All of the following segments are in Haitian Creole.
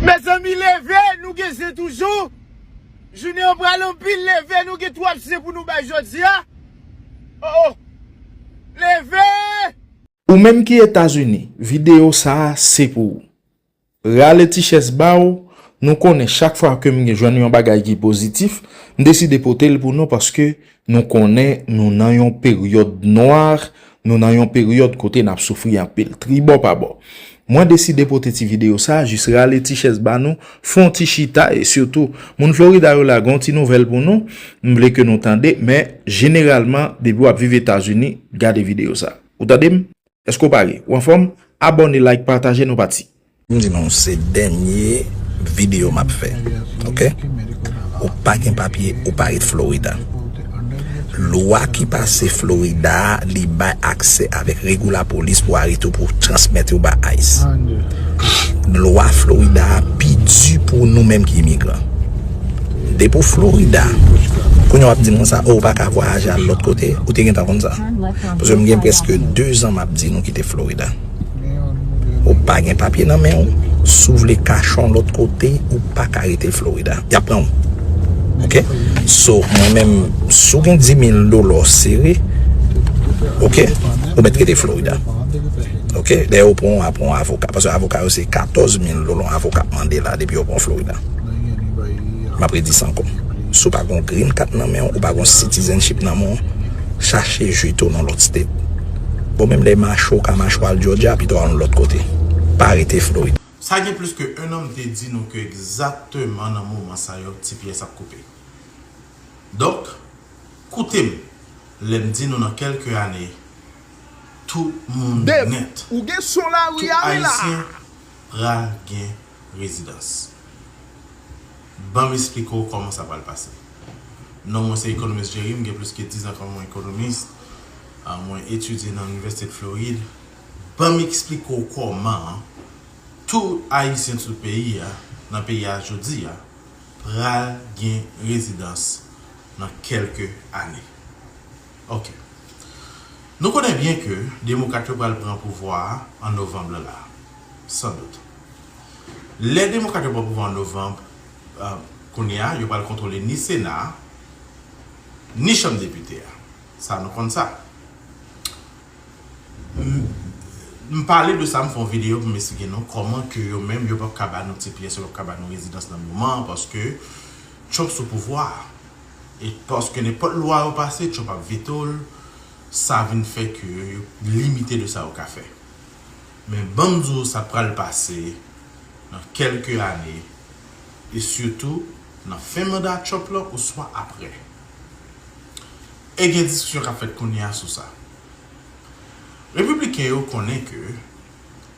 Mezanmi leve nou gen zen toujou jounen an pral anpil leve nou gen twòp zen pou nou bay jodia oh oh leve. Ou menm ki etazini video sa se pou ou rale ti chèz ba ou nou konnen chak fwa kem gen jwenn yon bagay ki pozitif m deside potel pou nou paske Nou konnen nou nan yon peryòd nwa, nou nan yon peryòd kote n ap soufri anpil, tribò pa bò. Mwen deside pote ti videyo sa a jis rale ti chèz ba nou, fè yon ti chita e sitou, moun Florida yo la gen yon ti nouvèl pou nou, m vle ke nou tande, men jeneralman depi w ap viv Etazini, gade videyo sa a. Ou tande m? Eske w pare? Ou anfòm? Abòne like pataje nou pati. M di nou se dènye video map fè ok ou pa gen papye ou pa ret Florida lwa ki pase Florida a li bay aksè avèk regu la polis pou arete w pou transmèt ou ba ice lwa Florida a pi di pou nou menm ki imigran depi w Florida kounya wap di m konsa oh ou paka vwayaje al lòt kote ou te gentan konn sa. Paske m gen preske 2 zan m ap di nou kite Florida. Ou pa gen papye nan men ou, si ou vle kache yon lòt kote, ou pa ka rete Florida. Y ap pran ou. Ok? So, mwen menm, si ou gen 10,000 dola ou sere, ok, ou mèt rete Florida. Ok? Dèyè ou pran ou ap pran yon avoka. Paske avoka yo se 14,000 dola yon avoka ap mande la depi yo pran ou Florida. M ap redi sa ankò. Si ou pa gen yon green card nan men ou, ou pa gen yon citizenship nan men ou, Chache jwi to nan lòt state. Bon menm lè mache ou ka mache al Georgia pito al yon lòt kote. Pa rete Florida. Sa gen plis ke 1 an m te di nou ke egzakteman nan moman sa yo ti pyès ap koupe. Donk, koute m lè m di nou nan kèlke ane tout moun nèt, tout Ayisyen pral gen. rezidans. Ban m esplike w kòman sa pral pase. Non mwen se Economist Jerry, m gen plis ke dizan kòm yon ekonomis, mwen etidye nan Inivèsite de Floride. Ban m esplike w kòman tout Ayisyen tout peyi a, nan peyi a jodi a, pral gen rezidans nan kèlke ane. Ok. Nou konnen byen ke Demokrat yo pral pran pouvwa a an Novanm lan la. San dout. Lè Demokrat yo pran pouvwa an Novanb, kounye a, yo pral kontwole ni Sena a, ni Chanm Depite a. Sa nou konn sa. M pale de sa, m fè yon videyo pou m esplike nou kòman ke yo menm yo pap ka ba nou ti pyès, yo pap ka ba nou rezidans nan moman an paske Trump sou pouvwa a. E paske nenpòt lwa yo pase, Trump ap veto l, sa vin fè ke yo limite de sa yo ka fè. Men banm di w sa pral pase nan kelke ane e sitou nan fen manda Trump lan oswa aprè. E gen diskisyon kap fèt kounye a sou sa. Repibliken yo konnen ke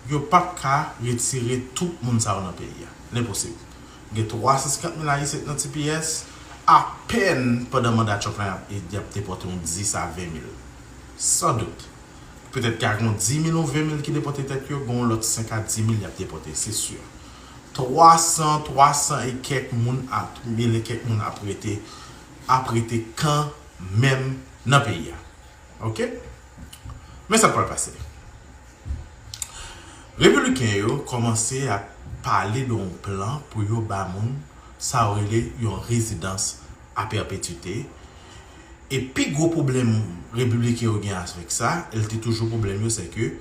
yo pap ka retire tout moun sa yo nan peyi a. L enposib. Gen 350 mil Ayisyen ki nan tps, apèn pandan manda Trump lan yap depòte yon 10 a 20 mil. San dout. Petèt ka gen yon dimil ou venmil ki depòte tèt yo, gen yon lòt senk a dimil y ap depòte, se si. Twasan, twasan e kèk moun a, mil e kèk moun ap rete, ap rete kanmenm nan peyi a. Oke? Men sa k pral pase. Repibliken yo kòmanse ap pale de yon plan pou yo ba moun sa yo rele yon rezidans a pèpetite. E pi gwo pwoblèm repibliken yo gen avèk sa, e l te toujou pwoblèm yo, sè ke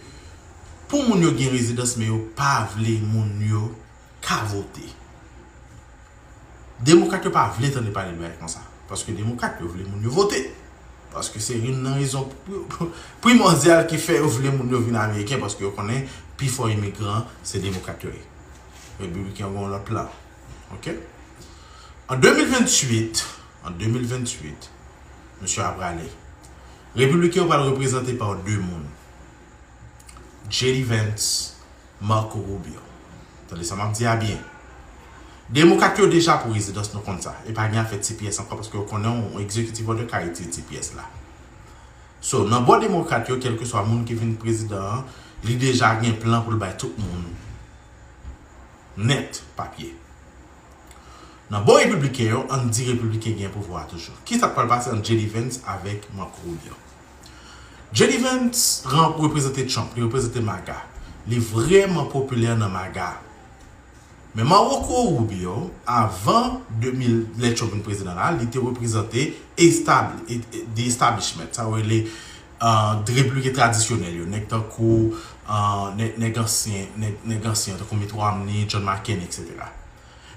pou moun yo gen rezidans men yo pa vle moun yo ka vote. Demokrat yo pa vle tande pale de bagay konsa, paske demokrat yo vle moun yo vote. Paske se youn nan rezon primòdyal ki fè yo vle moun yo vin ameriken, paske yo konnen pi fò imigran se demokrat yo ye. Repibliken yo gen yon lòt plan. Ok? An 2028, an 2028, msye a prale. Repibliken yo pral reprezante pa 2 moun, JD Vance, Marco Rubio. Tande sa map di a byen. Demokat yo deja pou rezidans nou konn sa. E pa gen afè ti pyès ankò paske yo konnen yon executive order ka retire ti pyès la. So, nan bò demokrat yo kelkeswa moun ki vin prezidan an, li deja gen plan pou l bay tout moun nèt papye. Nan bò repibliken yo, ann di repibliken gen pouvwa a toujou. Ki sa k pral pase ant JD Vance avèk Marco Rubio? JD Vance reprezante Trump, li reprezante MAGA. Li vrèman popilè nan MAGA. Men Marco Rubio, avan 2000, lè Trump vin prezidan la, li te reprezante estab, the establishment, sa yo rele Dreplike tradisyonèl yo, nèg tankou nèg ansyen, nèg ansyen tankou Mitt Romney, John McCain etc.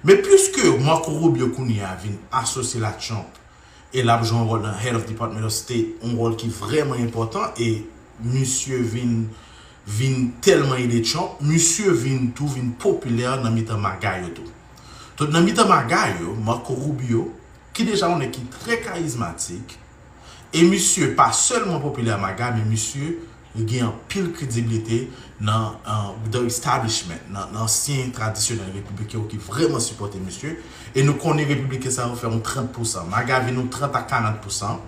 Men puiske Marco Rubio kounye a vin asosye l a Trump e l ap jwe yon wòl nan Head of Department of State, yon wòl ki vrèman enpòtan e misye vin vin tèlman ede Trump, misye vin tou vin popilè nan mitan MAGA yo tou. Donk nan mitan MAGA yo, Marco Rubio, ki deja yon nèg ki trè karizmatik, E misye pa sèlman popilè a MAGA men misye li gen anpil krediblite nan the establishment, nan ansyen tradisyonèl repibliken yo ki vrèman sipòte misye. E nou konnen repibliken sa yo fè yon 30 pousan. MAGA vin yon 30 a 40 pousan.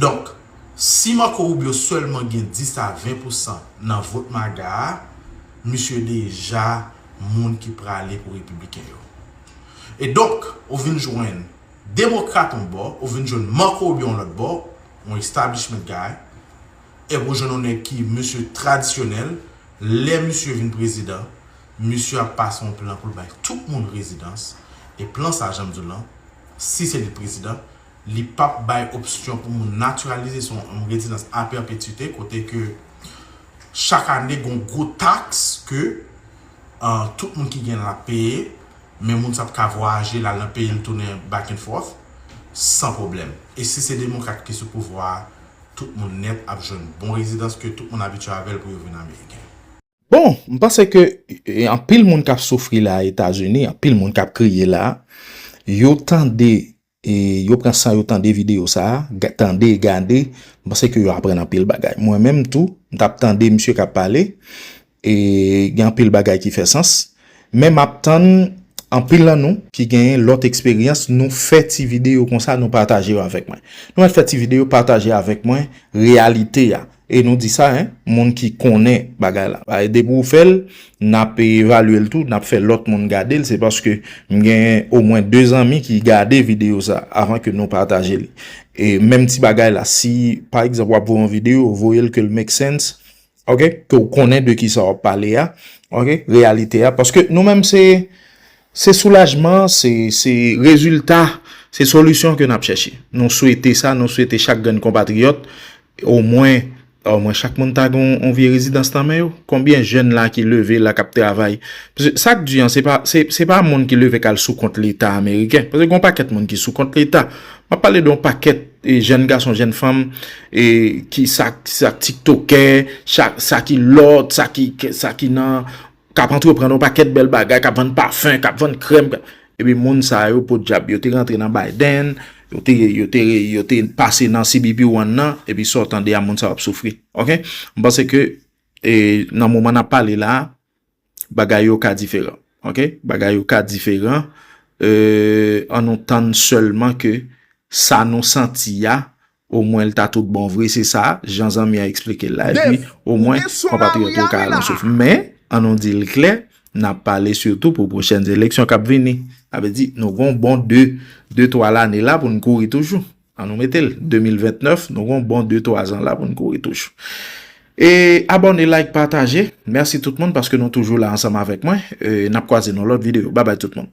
Donk, si Marco Rubio sèlman gen 10 a 20 pousan nan vot MAGA a, misye deja moun ki prale pou repibliken yo. E donk, ou vin jwenn. Demokrat on bò, ou vin jwenn Marco Rubio on lòt bò, on establishment guy, epi ou jwenn on nèg ki mesye tradisyonèl, lè misye vin prezidan, misye ap pase on plan pou l bay tout moun rezidans, e plan sa jan m di w lan, si se li k prezidan, li pa p bay opsyon pou moun natiralize, se on on rezidans a pèpetite kote ke chak ane gen on gwo taks ke tout moun ki gen l ap peye. Men moun sa t ka vwayaje lal nan peyil tounen back and forth san pwoblèm. E si se demokrat ki sou pouvwa a tout moun nèt ap jwenn bon rezidans ke tout moun abitye avèl pou yo vin ameriken. Bon, m panse ke anpil moun kap soufri la a Etazini, anpil moun kap kriye la a, yo tande E yo pran san yo tande video sa, tande, gade, m panse ke yo aprann anpil bagay. Mwen menm tou, m tap tande misye kap pale, e gen anpil bagay ki fè sans. Men map tann anpil nan nou ki genyen lòt eksperyans nou fè ti video konsa nou pataje yo avèk mwen. Nou mèt fè ti video pataje avèk mwen reyalite a, E nou di sa hein moun ki konnen bagay la. Bagay depi ou fèl nap evalyel tou nap fè lòt moun gadel se paske m gen o mwen 2 zanmi ki gade video sa avan ke nou pataje li e menm ti bagay la si pa egzanp wap voye yon video voyel kel make sense ok ke ou konnen de kisa wap pale a ok reyalite a paske nou menm se Se soulajman, se se rezilta, se solisyon ke n ap chèche. Nou swete sa, nou swete chak grenn konpatriyòt, omwen, omwen chak moun ta gen yon vye rezidans nan men yo. Konbyen jèn la ki leve la k ap travay? Paske sa k di an, se pa, se pa moun ki leve k al sou kont leta ameriken. Paske gen yon pakèt moun ki sou kont leta. M ap pale de yon pakèt jèn gason, jèn fanm e ki sa, sa tiktokè, sa ki lòt, sa ki, sa ki nan. k ap antreprann yon pakèt bèl bagay, k ap vann pafen, k ap vann krèm, k ap... Epi moun sa yo, podyab, yo te rantre nan Biden, yo te, yo te, yo te pase nan CBP One nan, epi sa w tande a moun sa yo ap soufri. Ok? M panse ke e nan moman n ap pale la a, bagay yo ka diferan. Ok? Bagay yo ka diferan. Eee, an nou tann sèlman ke sa nou santi a, O mwen l ta tout bon vre, se sa jan zanmi an eksplike l la. Epi, o mwen, konpatriyòt yo ka al an souf. Men, an nou di l klè, n ap pale sitou pou pwochèn eleksyon k ap vini. Sa vle di, nou gon bon de, de twa lane la pou n kouri toujou. An nou mete l, 2029, nou gon bon de twa zan la pou n kouri toujou. E, abòne, like, pataje. Mèsi tout moun paske nou toujou la ansanm avèk mwen. N ap kwaze nan lòt videyo. Babay tout moun.